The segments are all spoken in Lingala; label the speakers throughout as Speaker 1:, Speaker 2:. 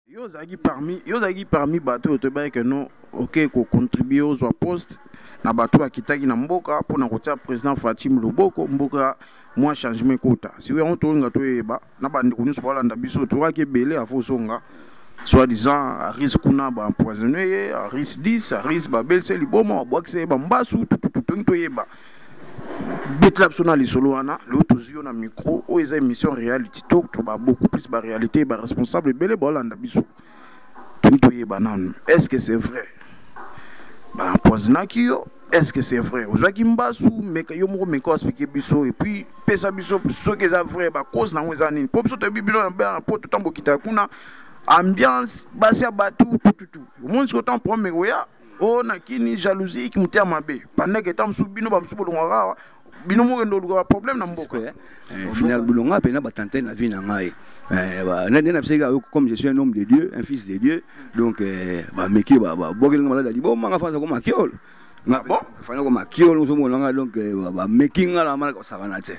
Speaker 1: yo ozalaki parmi yo ozalaki parmi bato oyo toyebaki ke no oke kocontribue ozwa poste na bato oyo akitaki na mboka mpo na kotia président fatim loboko mboka mwa changement ekota siko yango tolinga toyeba na bandeko nyonso balanda biso toyokaki ebele afo ozonga soit disant aris kuna baempoisonne ye aris 10 aris babelise liboma babwakisa ye bambasu tutututongi toyeba betela biso na lisolo wana lelo tozwi yo na micro oyo eza émission reality talk to ba beaucoup plus ba réalité ba responsable ebele baolanda biso toni toyeba nanu est ce que c'est vrai bapoisinaki yo est ce que c'est vrai ozwaki mbasu meka yo moko meka oexplike biso epuis pesa biso soki eza vrai bacause nango eza nini mpo biso toyebi bino na poto ntango okitaka kuna ambiance basi ya bato tututu omoni soki otango problème ekoya o na kini jalousie iki motema mabe pandeke ntango mosusu bino bamosusu bolongwaka awa bino mokende olukaka problème na mboka eh, eh, final bolonga
Speaker 2: mpena batante na vie na ngai eh, nde na bisaki ayo comme je suis un homme de dieu un fils de dieu donc bameki babokelinga maladi ya liboma nga fanza koma kiolo nga bon fana koma kiolo ozomona nga donc bameki nga na malaka osakana te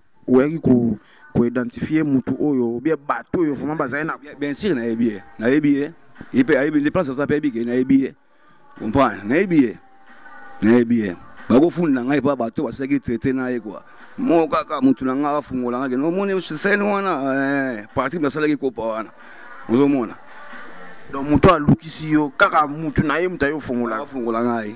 Speaker 1: oyaki ko ko identifier mutu oyo bien bato oyo vraiment bazali na bien sûr nayebi ye
Speaker 2: nayebi ye ye mpe ayebi nde place aza mpe ayebi ke nayebi ye comprendre nayebi ye nayebi ye bakofunda na ngai epa bato basalaki traité na ye kua moko kaka motu na ngai afungola ngai kende omoni sene wana eh, parti nasalaki kopa wana ozomona donc
Speaker 1: moto alukisi yo kaka motu na ye moto aye ofungola afungola ngai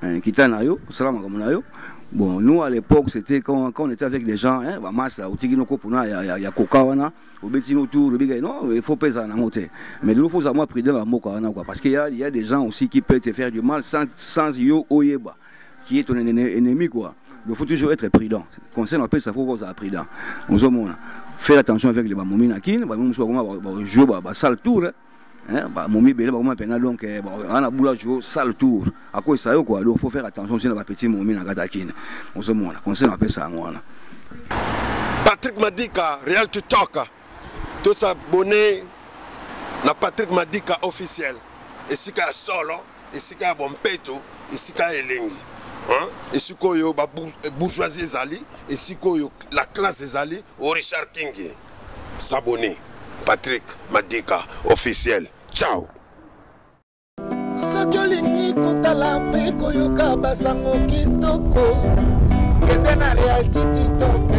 Speaker 2: Hein, kita na yo osala makambo na yo bon nous à l'époque c'était quand, quand on était avec des gens hein, bamasi la otiki no kopo na ya, ya, ya koka wana obeti no tour obika non il faut pesa nango te mais lelo faut moi prudent la mboka wana quoi parce qu'il y a, il y a des gens aussi qui peuvent te faire du mal sans, sans yo oyeba qui est ton ennemi quoi il faut toujours être prudent conseil na pesa faut kozala prudent ozomona faire attention avec les bamomi na kin bamomi mosusu bakoma bajouer basale tour hein. hein ba momi belé ba koma pena donc eh, ana boula jo sale tour à quoi ça yo quoi donc faut faire attention sur ba petit momi na kata kin on se mona conseil na pesa ngwana
Speaker 3: Patrick Madika Real to Talk tous abonnés na Patrick Madika officiel esika ya solo esika ya bompeto esika ya elengi esika oyo babourgeoisie eh, ezali esika oyo la classe ezali o richard king sabone patrick madika officiel ciao soki
Speaker 4: olingi kotala mpe koyoka basango kitoko kende na realtititoke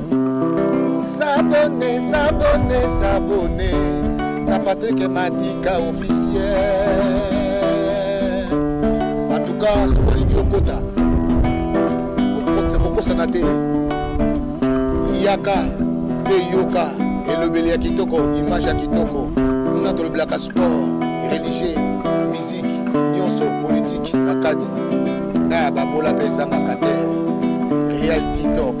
Speaker 4: S'abonner, s'abonner, s'abonner na Patrick Madika officiel. En tout cas, soki olingi okota, okosana te. Yaka mpe yoka elobeli ya kitoko, image ya kitoko. Kuna tolobelaka sport, religieux, musique, nyonso politique na kati. Na ya babola mpe esangaka te. Real TikTok.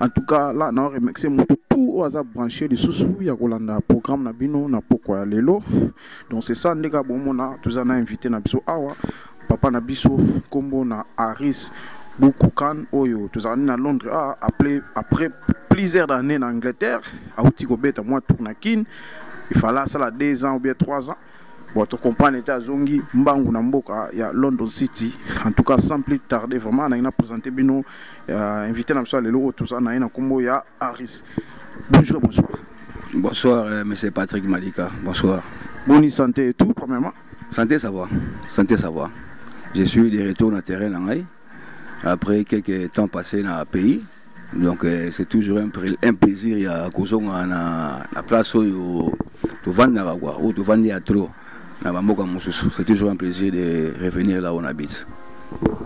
Speaker 1: en tout cas là na remercie motu tout oyo aza branche lisusu ya kolanda programme na bino na pokwa ya lelo donc c'est ça ndeka bomona toza na invité na biso awa papa na biso nkombo na aris bukukan oyo tozalani na londres a appelé après plusieurs années na angleterre auti kobeta mwa tour na kin ifala asala deux ans ou bien trois ans Bon, to comprendre te azongi mbangu na mboka ya London City. En tout cas, sans plus tarder, vraiment, na ina présenter bino euh, invité na biso lelo tout ça na ina kombo ya Harris. Bonjour, bonsoir. Bonsoir, euh,
Speaker 2: monsieur Patrick Malika. Bonsoir. Bonne santé et
Speaker 1: tout, premièrement. Santé, ça va.
Speaker 2: Santé, ça va. Je suis de retour dans le terrain après quelques temps passés dans le pays. donc euh, c'est toujours un, un plaisir ya kozonga na, na place oyo tovandaka kua oyo tovandi ya trop na bamboka mosusu c'est toujours un plaisir de revenir là on habite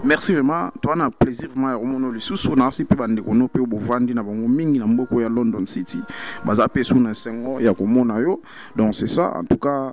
Speaker 2: merci
Speaker 1: vraiment toi na plaisir vraiment ya komona lisusu nasi mpe bandeko no mpe oyo bovandi na bango mingi na mboko ya london city baza mpe su na esengo ya komona yo donc c'est ça en tout cas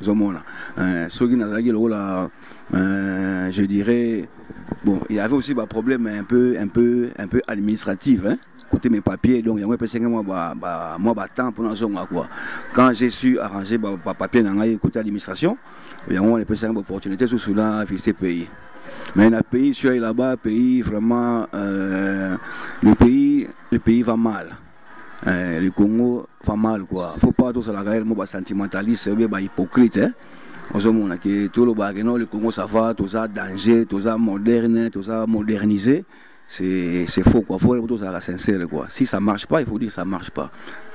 Speaker 2: ozomona euh, soki nazalaki lokola euh, je dirais bon il y avait aussi baproblème un peu un peu un peu administratif hein côté mes papiers donc yango epesaki mwa mwa batemp mpo nazonga quoi quand j'ai su arranger bapapier na ngai côté administration yango wana epesaki baopportunité susu na visite pays mais na pays sur là-bas pays vraiment euh, le pays le pays va mal Eh, le Congo pas mal quoi. Faut pas tout ça la guerre, moi, sentimentaliste, ou bien bah, hypocrite. Hein? ozomona ke tolobaka ke non le congo ça va toza danger toza moderne toza modernisé c'est faux quoi faut tozalaka sincère quoi si ça marche pas il faut dire ça marche pas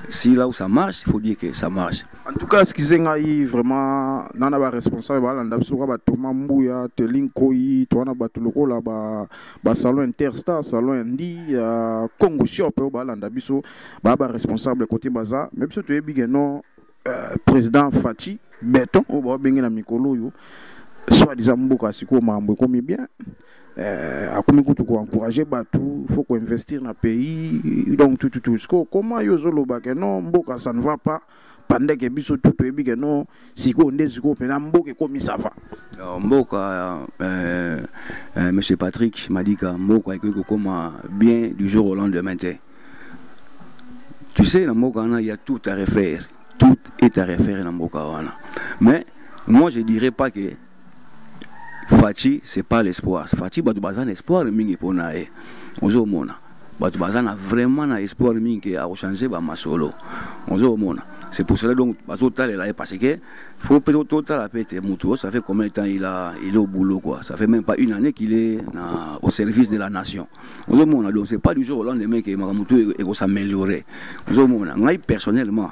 Speaker 2: si là où ça marche il faut dire que ça marche en tout cas eskize
Speaker 1: ngai vraiment nana baresponsable balanda biso lokola batoma mbuya telin koi to wana bato lokola ba ba salon interstar salon ya ndi ya congo shop oyo balanda biso baa ba responsable kote baza me biso toyebi ke non euh, président faci beton oyo babenge na mikolo oyo soit disant mboka sikoyo makambo ekomi bien euh, akomi kutu koencourage bato faut koinvestir na pays donc tututu sikoyo koma yo ozolobake non mboka ça ne va pas pendant que biso tout toyebi ke no sikoyo nde sikoyo mpena mboka ekomi sava mboka euh,
Speaker 2: euh, monsieur patrick malika mboka ekoki kokoma bien du jour au lendemain te tu sais na mboka wana ya tout à refaire tout est à refaire na mboka wana mais moi je dirais pas que Fatshi c'est pas l'espoir. Fatshi batu baza na espoir mingi pona ye. Ozo mona. Batu baza na vraiment na espoir mingi ke ako changer ba masolo. Ozo mona. C'est pour cela donc bazo talela ye parce que faut peut to tala pete mutu ça fait combien de temps il a il est au boulot quoi. Ça fait même pas une année qu'il est na, au service de la nation. Ozo mona donc c'est pas du jour au lendemain que mutu eko s'améliorer. Ozo mona. Ngai personnellement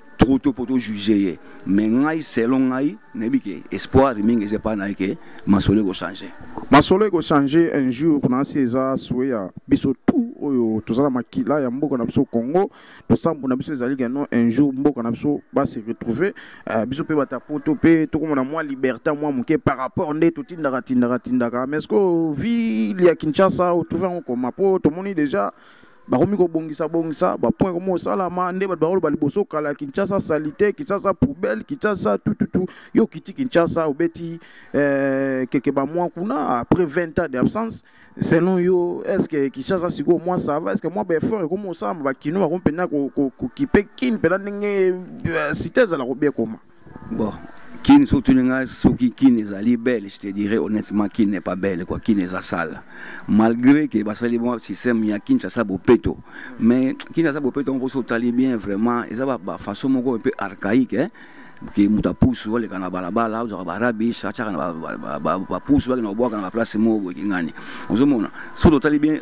Speaker 2: trop tôt mpo tojuge ye mais ngai selon ngai nayebi ke espoir mingi eza epai na ye ke masolo ekochange masolo ekochange
Speaker 1: un jour nasi eza sue ya biso tout oyo toza na makila ya mboka na biso congo losambo na biso ezali keno un jour mboka na biso base retrouve uh, biso mpe bata poto mpe tokomona mwa liberté mwa moke par rapport nde totindaka tindaka tindaka mais ce que ville ya kinshasa otrouve yango koma mpo tomoni déjà bakomi kobongisa bongisa bapoint ekomi kosalama nde bato bakoloba liboso kala kinshasa salite kinshasa poubelle kinshasa tututu yo okiti kinshasa obeti eh, keke bamwa kuna après 20 ans d'absence selon yo est ce que kinshasa sikoyo mwa sava est ce que mwa baeffort ekomi kosalama bakino bakomi mpenza kokipe kin mpenza ndenge eh, site ezala kobiekoma Bon,
Speaker 2: Kin soki otuni ngai soki Kin ezali belle, je te dirais honnêtement Kin n'est pas belle quoi, Kin eza sale. Malgré que basali bon système ya Kinshasa bopeto, mais Kinshasa bopeto on poso tali bien vraiment, eza ba, ba façon moko un peu archaïque hein. ke moto apusu oleka na balabala ozwaka barabish atyaka na bapusu bakenda kobwaka na baplace moko boye kingani ozomona soki totali bien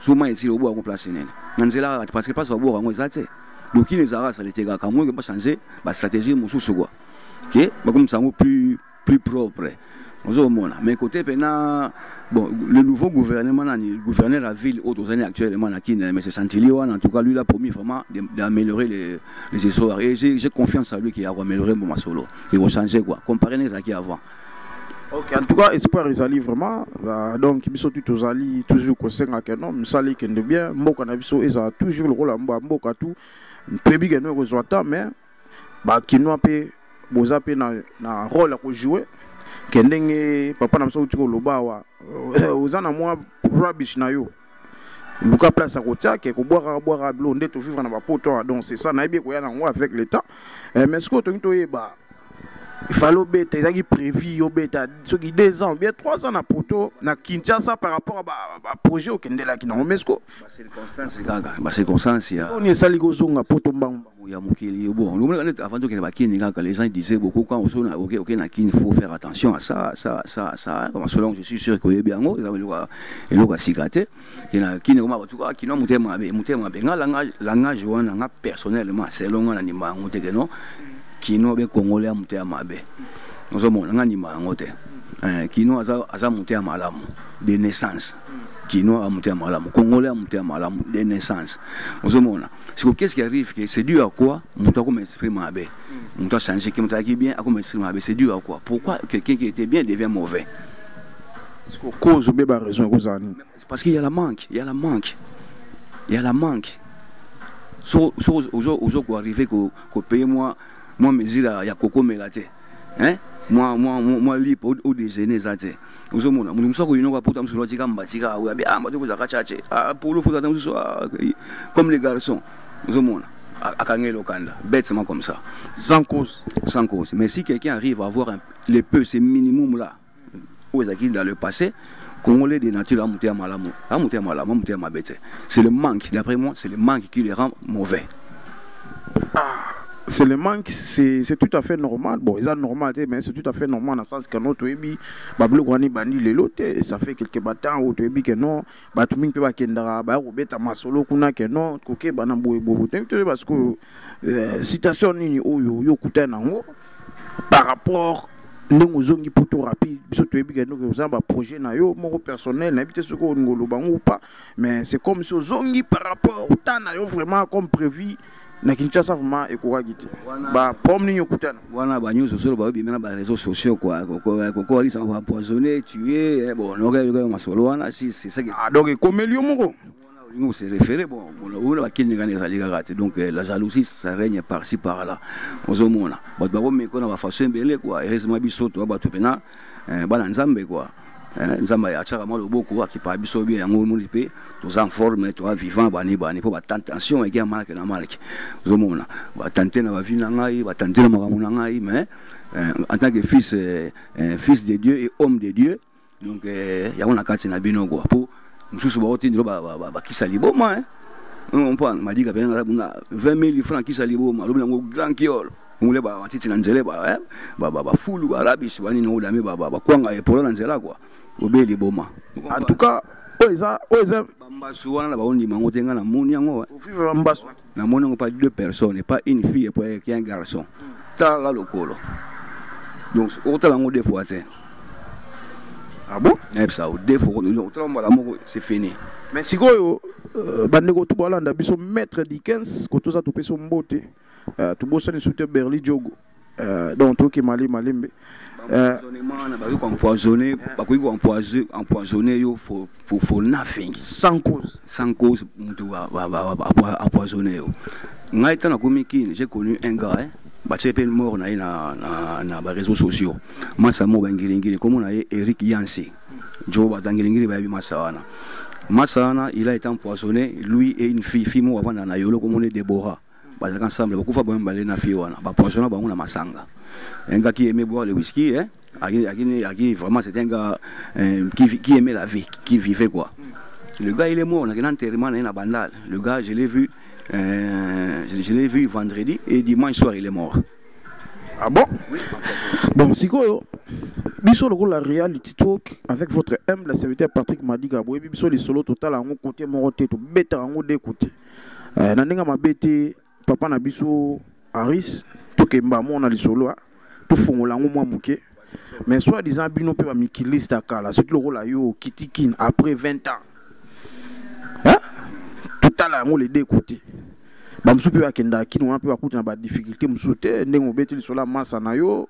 Speaker 2: zuma ezili oboka yango place nene na nzela kaka te parce que place baboka yango eza te lokini ezalaka salite kaka yango eke bachange bastratégie mosusu kua ke bakomisa yango plus plus propre ozomona mais kote mpena bon le nouveau gouvernement nani gouverneur ya ville oyo tozali actuellement na kine mais santili wana en tout cas lui la promis vraiment d'améliorer les, les histoires et j'ai confiance à lui qu'il akoaméliorer mbo masolo ekochange quoi comparé na ezalaki avant ok en
Speaker 1: tout cas espoir ezali vraiment uh, donc biso tu tozali toujours kosenga ke no misala ekende bien mboka na biso ezala toujours lokola mba mboka tu toyebi ke no ekozwa ta mais bakinois mpe boza mpe na, na role ya kojoue ke ndenge papa na biso auti koloba awa oza na mwa rubbish na yo luka place ya kotia ke kobwaka bwaka bilo nde tovivre na bapoto awa donc c'est ça nayebi ekoya nango avec le temps eh, mais sikoyo tolingi toyeba ifale obeta ezalaki prévu obeta soki deux ans bien trois ans na poto na kinshasa par rapport ya baprojet okendelaki nango mais sikoyo bacirconstance kaka
Speaker 2: bacirconstance ya oni esali kozonga
Speaker 1: poto mbangu ya mokili
Speaker 2: bon omoni neti avant tokende bakini kaka les gens disaient beaucoup quand oso na oke oke na kini faut faire attention à ça ça ça ça comme selon je suis sûr que oyebi yango eza eloko eloko ya sika te ke na kini koma bato kaka kino motema mabe motema mabe nga langage langage wana nga personnellement selon nga na ndima yango te ke non kino be congolais ya motema mabe ozomona nga ndima yango te eh, kino aza aza motema malamu de naissance kino ya motema malamu congolais ya motema malamu de naissance ozomona siko qu'est-ce qui arrive que c'est dû à quoi moto akoma esprit mabe moto achange ke moto ayaki bien akoma esprit mabe c'est dû à quoi pourquoi quelqu'un qui était bien devient mauvais
Speaker 1: cause obe ba raison ekozala nini parce qu'il y a la
Speaker 2: manque il y a la manque il y a la manque so so ozo ozo ko arriver ko ko payer moi moi mesure ya kokomela te hein moi moi moi lipo au déjeuner ça te ozomona mutu mosusu akoyinoka poto mosusu atika mbatika awe abi ah mbati kozaka chache ah polo fo tata mosusu ah, comme les garçons ozomona akangeli lokanda bêtement comme ça sans cause
Speaker 1: sans cause mais si
Speaker 2: quelqu'un arrive à avoir un, le peu ce minimum là oyo ezalaki dans le passé Congolais de nature à monter à Malamou, à monter à Malamou, à monter à Mabete. C'est le manque, d'après moi, c'est le manque qui les rend mauvais.
Speaker 1: c'est le manque c'est c'est tout à fait normal bon eza normal te mais c'est tout à fait normal na sens kano toyebi babiloko wana ebandi lelo te ça fait quelque batemps oyo toyebi ke non bato mingi mpe bakendaka baya kobeta masolo kuna ke non kokeba na boye boye toyebi toyeba sikoyo euh, citation nini oyo yo okutani yango par rapport ndenge ozongi poto rapide biso toyebi ke noki oza baprojet na yo moko personnel nayebi te soki olingi oloba yango ou pas mais c'est comme si ozongi par rapport ta na yo vraiment comme prévu na kinshasa vraiment ekokaki te baproblème nini okutana wana banyonso solo
Speaker 2: baobima na bareseau sociaux kua kokoalisaka baempoisonne tue eh, bon nokayoka masolo wana si c'est ça ah, donc ekomeli yo moko
Speaker 1: olingi kose
Speaker 2: référé bon ona bakilingana ezali kaka te donc eh, la jalousie ça règne par ci par là ozomona bato bakomekona bafaçon ebele kua heureusement biso toa bato mpena eh, bana nzambe quoi eh, nzambe atiaka mwa loboko akipaka biso bie yango omoni mpe toza en forme toa vivant bani bani mpo batentation ege ya malake na malake ozomona batante na bavi na ngai batante na makambo na ngai mais eh, en tant que fils eh, eh, fils de dieu et homme de dieu donc eh, yango na kati na bino kua mpo mosusu baotindelo bakisa liboma eh. on prend m'a dit qu'il y avait 20 000 francs qui s'allient au Maloum, grand kiol. ngule ba matiti na nzele ba eh ba ba, ba fulu ba rabish ba nini olame ba ba, ba kwanga epolo na nzela quoi obeli boma en tout cas
Speaker 1: oyo eza oyo eza bambasu
Speaker 2: wana na baondima yango te ngai namoni yango ovive bambasu
Speaker 1: namoni yango pas deux
Speaker 2: personnes et pas une fille epo eki un garçon tala lokolo donc okotala yango deux fois te
Speaker 1: ah bon nayebisa yo deux fois
Speaker 2: okotala mbala moko c'est fini mais sikoyo
Speaker 1: euh, bandeko to balanda biso maître dikens kotoza topesa mbote euh, tobosani soki te berli jogo euh, donc toyoki mali malembe euh, bakoki koempoisonne bakoki
Speaker 2: koempoisonne yo for, for, for nothing sans cause
Speaker 1: sans cause moto
Speaker 2: apoisonne yo ngai ntango nakomi kine j'ai connu un gars eh? batie mpe mort na ye na, na, na bareseau sociaux masa moko bangelingili nkombo na ye eric yanse jo batangelingili bayebi masa wana masa wana il a été empoisonné lui et une fille fille moko avanda na yolo komoni debora bazalaka ensemble bakufa bango mibale na fille wana bapoisona bango na masanga un gars qui aimait boire le whisky hein Agui, vraiment c'était un gars euh, qui, qui aimait la vie qui vivait quoi le gars il est mort on a un enterrement na bandal le gars je l'ai vu euh, je l'ai vu vendredi et dimanche soir il est mort ah bon
Speaker 1: oui. bon sikoyo biso lokola reality talk avec votre humble serviteur patrick madiga boyebi biso lisolo totala yango kote moko te tobetaka yango de kote eh, na ndenge mabe te papa na biso aris tokemba mo na lisolo ah. tofongola yango mwa moke mais soit disant bino mpe bamikiliste ya kala soki lokola yo okiti kin après 20 ans hein? totala yango le deux côté bamosusu mpe bakendaka kino wana mpe bakuta na badifficulté mosusu te ndenge obeti lisolo ya masa na yo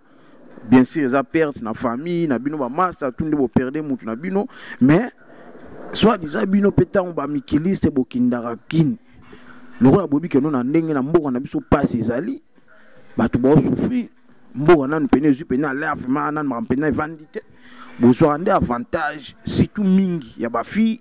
Speaker 1: bien sûr eza perte na famille na bino bamasta tu nde boperde mutu na bino mais soit disant bino mpe ntango bamikiliste bokindaka kini lokola boyebi keno na ndenge na mboka na biso mpasi ezali bato baosouffrir mboka nanu mpena ezwi mpena alervema nanu makambo mpena evandi te bozwaka nde avantage surtout mingi ya bafille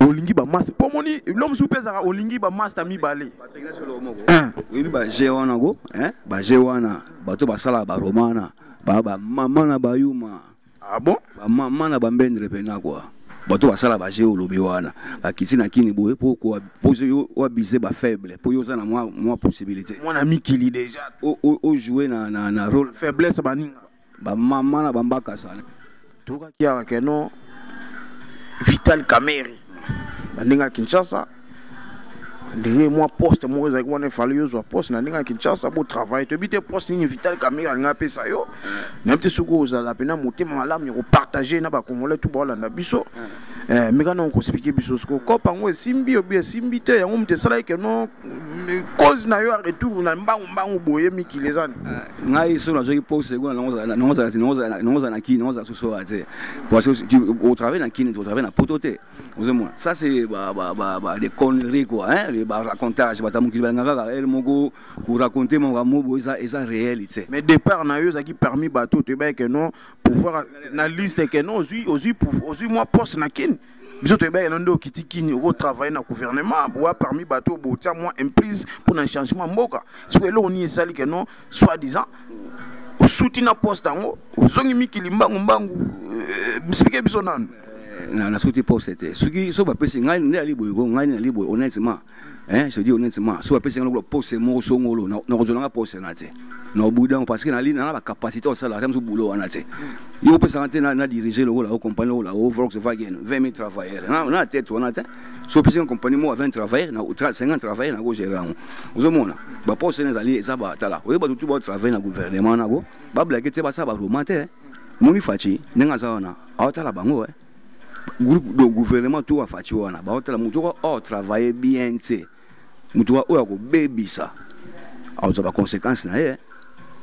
Speaker 1: olingi bamasta mpo omoni bilo mosusu mpe ezalaka olingi bamasta mibale
Speaker 2: oyebi baje wana ko baje wana bato basalaka baroma wana baa bamama na bayuma ah bon
Speaker 1: bamama na bambendre
Speaker 2: mpena kua bato basala baje olobi wana bakiti na kini boye mpo oabize bafaible mpo yo oza na mwa possibilité mwana mikili déjà
Speaker 1: ojoue na
Speaker 2: role faiblesse baninga
Speaker 1: Ba maman na
Speaker 2: bambaka sala. Toka kiara
Speaker 1: que non Vital Kamerhe. Bandinga Kinshasa. ndenge mwa poste moko ezalaki wana efali yo ozwa poste na ndenge ya kinshasa botravaille toyebi te poste nini vital camere alinga apesa yo nayebi te soki ozala mpena motema malamu ya kopartage na bacongolais tu baolanda biso Eh, meka na okosipike biso siko kope yango esimbi obi esimbi te yango moto esalaki keno cause na yo ya retour na mbangu mbangu boye mikili eza ni eh, ngai so
Speaker 2: nazwaki pose ego naozala na kini naozala sosoa te parce que otravaille na kini otravaille na poto te ozomona ça c'est des conneries quoi hein ba racontage bata mokili balinga kaka ele moko koraconte makambo boye eza réalité mais départ na yo ezalaki
Speaker 1: permis bato toyebaki keno pouvoir na liste que non ozui ozui ozui moi poste na kin biso toyebaki no nde okiti kini okotravaille na gouvernement boa parmi bato oyo botia mwa imprise mpo na changement mboka siko eloko nini esali ke no soit disant osuti na poste yango ozongi mikili mbangu mbangu euh, misipike biso nanu nasuti
Speaker 2: poste te soki so bapesi ngai nde ali boye ko ngai nde ali boye honnêtement eh je dis honnêtement so apesi ngalo pose moko songolo na ko zolanga pose na te na boudin parce que na lina na ba capacité ça la ramzo boulot na te yo pesa na te na diriger le la compagnie la Volkswagen 20 000 travailleurs na na tête on a te so pesi compagnie mo 20 travailleurs na 50 travailleurs na ko gérer on ozo mona ba pose na zali eza ba tala oyo ba tout ba travailler na gouvernement na go ba blaguer te ba sa ba romanter moni fachi ndenge aza wana aotala bango eh groupe donc gouvernement tout wa faci wana baotala motu oko o oh, travaille bien te motu wa oyo akobebisa akozwa baconséquence na ye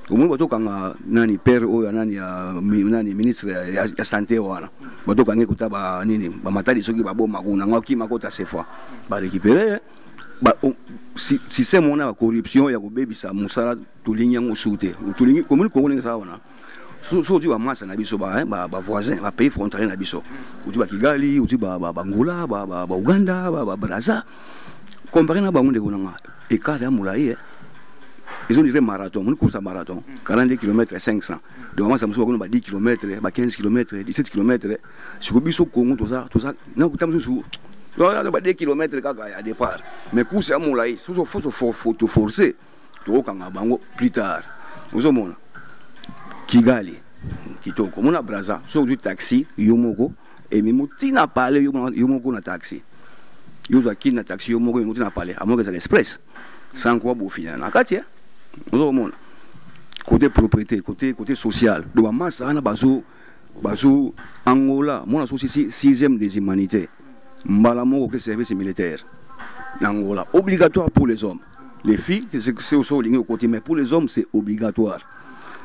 Speaker 2: omoni batokanga nani père oyo nani ya nani ministre ya, ya santé wana batokangi kota ba nini bamatali soki baboma kuna ngo akima kota sefa barécupere ba, um, si, système wana ya corruption ya kobebisa mosala tolingi yango su te tolingi komoni kongo ndenge eza wana soki ozwi bamasa na biso bavoisin eh, bapays frontalier na biso ozwi bakigali ozwi bangola bauganda babraza compare na bango ndeko nanga ekart ya molai eh. ezo dire marathon moni course ya marathon 42 km 500 donc bamasa mosusu bakona ba 10 km ba 15 km 17 km siko biso kongo toza toza nakuta mosusu ba 2 km kaka ya départ mais course ya molai soso foso foto forcer tokokanga bango plus tard ozomona kigali kitoko mona braza soki ozwi taxi yo moko ememi ntina pale yo moko na taxi yo ozwa kini na taxi yo moko ememi ntina pale amoka ezala express sanko abofina na kati eh? ozokomona côté propriété côté côté social do bamasa wana bazo bazo angola mona sosi sixième des humanités mbala moko ke service militaire na angola obligatoire pour les hommes les filles c'est que c'est aussi au lingue côté mais pour les hommes c'est obligatoire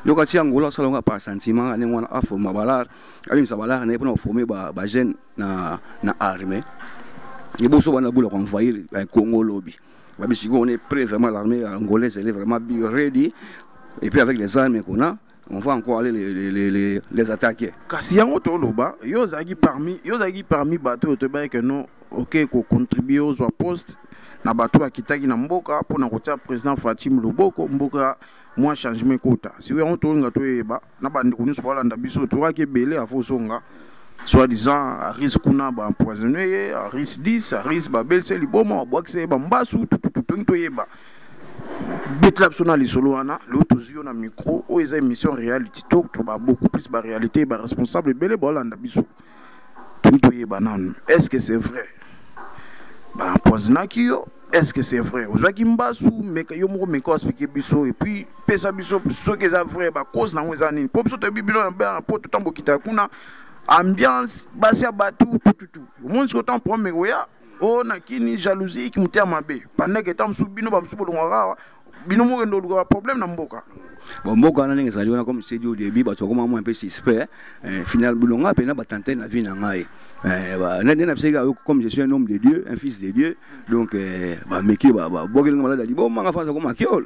Speaker 2: donc ati angola asala nga par sentiment ane wana aforma balare abimisa balare na ye mpona koforme bajeune na, na armée liboso bana bula koenvahir eh, congo lobi babi sikoyo on est prêt vraiment l'armée angolaise elle est vraiment ready et puis avec les armes qu'on a on va encore aller les, les, les, les, les attaquer. Kasi yango toloba,
Speaker 1: yo ozalaki parmi, yo ozalaki parmi bato oyo toyebaki que non oke kocontribue ozwa poste na bato oyo akitaki na mboka mpo na kotia président Fatim loboko mboka mwa changement ekota. Siko yango tolinga toyeba na bandeko nyonso balanda biso tokaki ebele avant ozonga soi-disant aris kuna baempoisonne ye aris 10 aris babelise liboma babwakisa ye bambasu tututu toyeba betela biso na lisolo wana lelo tozwi yo na micro oyo eza émission reality talk to ba beaucoup plus ba réalité ba responsable ebele baolanda biso toni toyeba nanu est ce que c'est vrai bapoisinaki yo est ce que c'est vrai ozwaki mbasu meka yo moko meka explike biso epuis pesa biso soki eza vrai bacause nango eza nini mpo biso toyebi bino na poto ntango bokitaka kuna ambiance basi ya bato tututu omoni sikoyo ntango problème ekoya o na kini jalousie iki moteya mabe pandeke ntango mosusu bino bamosusu bolongwaka awa bino mokende olukaka problème na mboka bon mboka wana
Speaker 2: ndenge ezali wana comme sedi au début bato bakoma mwa mpe suspect eh, final bilonga mpenza batante na vie na ngai eh, nde na bisaki ayo comme je suis un homme de dieu un fils de dieu donc eh, bameki bokelinga maladi libomanga fasa koma kiole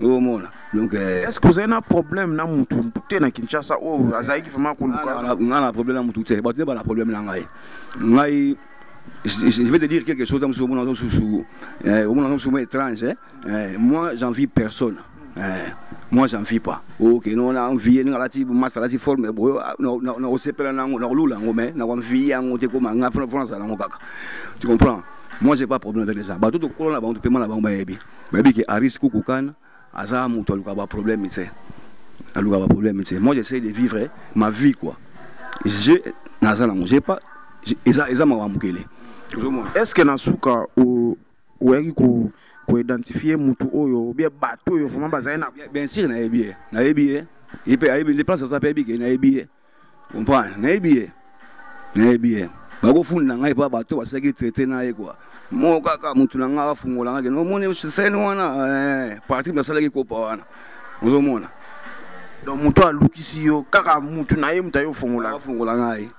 Speaker 2: omona donc eh, est ce que ozali na
Speaker 1: problème na mutu te na kinshasa oyo azalaki vraiment koluka nga na problème na mutu te
Speaker 2: bato nde bana problème na ngai ngai je vais te dire quelque chose dans ce moment dans sous eh, au moment dans ce moment étrange hein. eh, moi j'envie personne eh, moi j'en vis pas ok non na envie nga lati masa lati forme boyo ah, na na na osepela na na lula ngo mais na kwa envie yango te ko manga France la ngo kaka tu comprends moi j'ai pas problème avec les gens ba tout ko na ba tout paiement na ba ba yebi bayebi ke aris kukukan aza moto aluka baproblème te aluka baproblème te moi j'essaie de vivre ma vie quoi je naza nango je pas eza, eza mawa mokele est ce que
Speaker 1: na suka oyaki ko koidentifie motu oyo bie bato oyo vraimen bazali na bien sûr nayebi ye
Speaker 2: nayebi ye ye mpe ayebi nde place aza mpe ayebi ke nayebi ye comprendre nayebi ye nayebi ye bakofunda ngai mpo bato basalaki traite na ye kua moko kaka motu na ngai afungola ngai kende omoni sene wana eh, parti basalaki kopa wana ozomona donc
Speaker 1: moto alukisi yo kaka motu na ye moto aye ofungola afungola ngai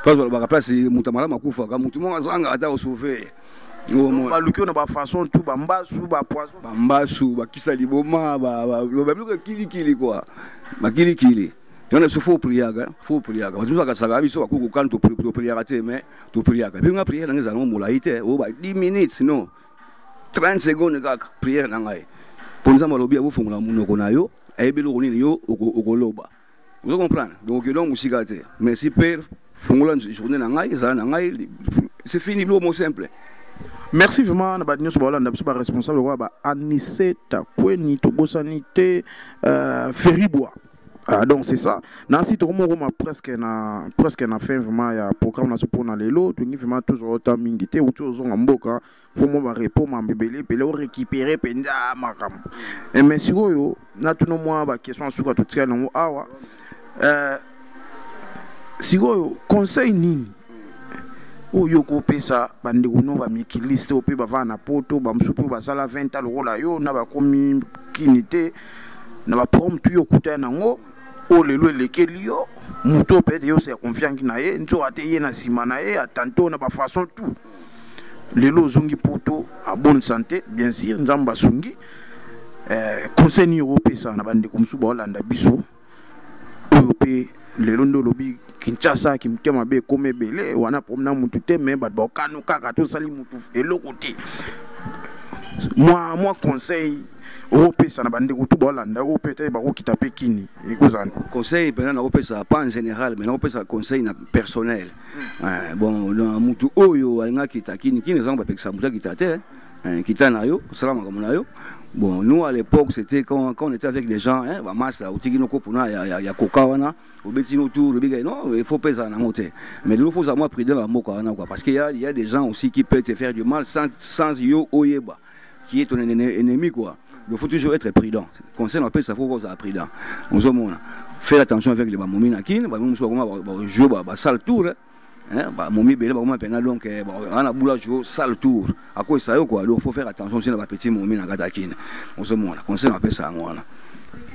Speaker 2: place balobaka place moto malamu akufaka motu moko azanga ata osauve baluki
Speaker 1: oyo na bafaçon tu bambasu bapoison bambasu bakisa
Speaker 2: liboma babiloko ya kilikili kua bakilikili Yana biso fo priyaga, fo priyaga. Bato ba kasaka biso ba kuku kan to priyaga te mais to priyaga. Bi nga prière nanga zango molayi te, o ba 10 minutes non. 30 secondes kaka prière na ngai. Konza malobi ya bofungola munoko na yo, ayebi loko nini yo okoloba. Vous comprenez? Donc donc musika te. Merci père, fungola journée na ngai, zala na ngai. C'est fini lo mot simple. merci
Speaker 1: vraiment na bato nyonso baolanda biso baresponsable lokola ba aniseta kweni tobosani te euh, feribwa Ah, donc c'est ça nasi tokoma okoma presque na presque na fin vraiment ya programme naso mpona lelo tolingi vraiment tozwa ota mingi te uti ozonga mboka fo mwa barepo mambo ebele ebele orécupere mpenza makambo eh, mais sikoyo natuna mwa baquestion ya suka totikali yango awa euh, sikoyo conseil nini oyo okopesa bandeko no bamikiliste oyo mpe bavanda na poto bamosusu mpe basala 20 ans lokola yo na bakomi kini te na ba prom tu yo kuta na ngo o le lue le ke lio muto pe yo se confiant na ye nzo ate ye na sima na ye atanto na ba façon tout le lo zongi poto a bonne santé bien sûr nzamba songi eh conseil ni yo pesa na bande comme sou ba landa biso oyo mpe lelo nde olobi kinshasa kimutya mabe ekoma ebele wana problème na mutu te me bato bakano kaka tosali mutu eloko te mwa mwa conseil okopesa na bandeko tu baolanda yo peut-être bakokita mpe kini ekozala conseil mpenza
Speaker 2: nakopesa pas en général mais nakopesa conseil na personnel hmm. eh, bon na mutu oyo alingaki kita kini kini ezanga bapekisa mutu akita te Hein, kita na yo sala makambo na yo bon nous à l'époque c'était quand, quand on était avec les gens hein, bamasa bah, otiki noko mpona ya, ya, ya koka wana obeti no tour obika non il faut pesa nango te mais lelo faut ozala prudent na mboka wana quoi parce qu'il y a, il y a des gens aussi qui peuvent te faire du mal sans, sans yo oyeba qui est ton ennemi quoi il faut toujours être prudent conseil na pesa faut kozala prudent ozomona faire attention avec les bamomi na kin bamomi mosusu bakoma bajou basale tour hein. Hein, ba momi belé ba momi pena donc eh, ba ana boula jo sale tour à quoi ça yo quoi donc faut faire attention c'est na ba petit momi na kata kin on se mona conseil na pesa ngwana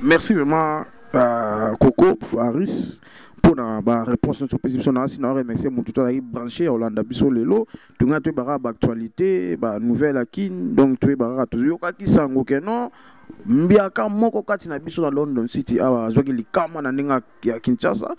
Speaker 2: merci
Speaker 1: vraiment euh, Coco Paris pour na ba réponse notre position na sina remercier mutu to branché Hollande biso lelo tunga to ba actualité ba nouvelle à kin donc tu ba to yo ka kisango que non mbiaka moko kati na biso na london city awa azwaki likama na ndenge ya Kinshasa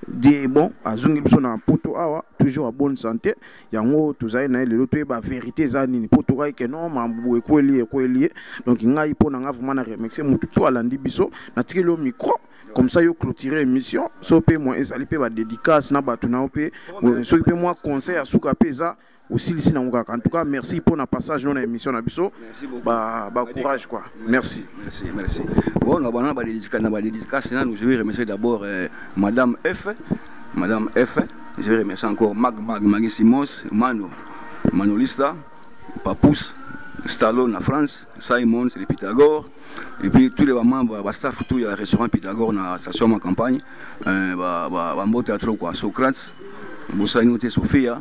Speaker 1: die bon azongi biso na poto awa toujours à bonne santé yango tozali na ye lelo toyeba vérité eza nini mpo tokaki ke non mambu ekweli ekweli ye donc ngai mpo na ngai vraiment na remercie motu to alandi biso natikeli yo micro comme ça yo clôturer émission so mpe moi ezali mpe badédicace na bato na yo mpe soki mpe mwa conseil ya suka mpe eza osilisi nango kaka en tout cas merci mpo na passage no na émission na biso bacourage quoi merci
Speaker 2: merci bona bana na badédicace nanu je vais remercier d'abord euh, madame f madame f je vais remercier encore mag mag magi simos mano manolista papous Stallone na France, Simons, les Pythagore, et puis tous les membres, bah, staff, tout, il y a restaurant Pythagore dans la station ma campagne, euh, bah, bah, bah, trop quoi, Socrates, Bossagnoté, Sophia,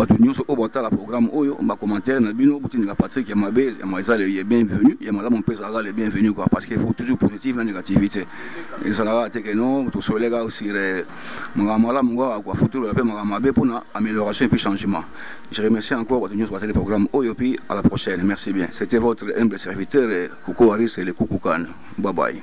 Speaker 2: bato nyonso oyo batala programme oyo bacommentaire na bino botindika patrick ya mabe eza le bienvenu ya malamu mpe ezalaka le bienvenu quoi parce que faut toujours positive na négativité ezalaka te ke non tosoleka sur eh, makambo malamu kaka quoi faut tolola mpe makambo mabe mpo na amélioration et puis changement je remercie encore bato nyonso batali programme oyo puis à la prochaine merci bien c'était votre humble serviteur eh, koko aris le kukukan bye bye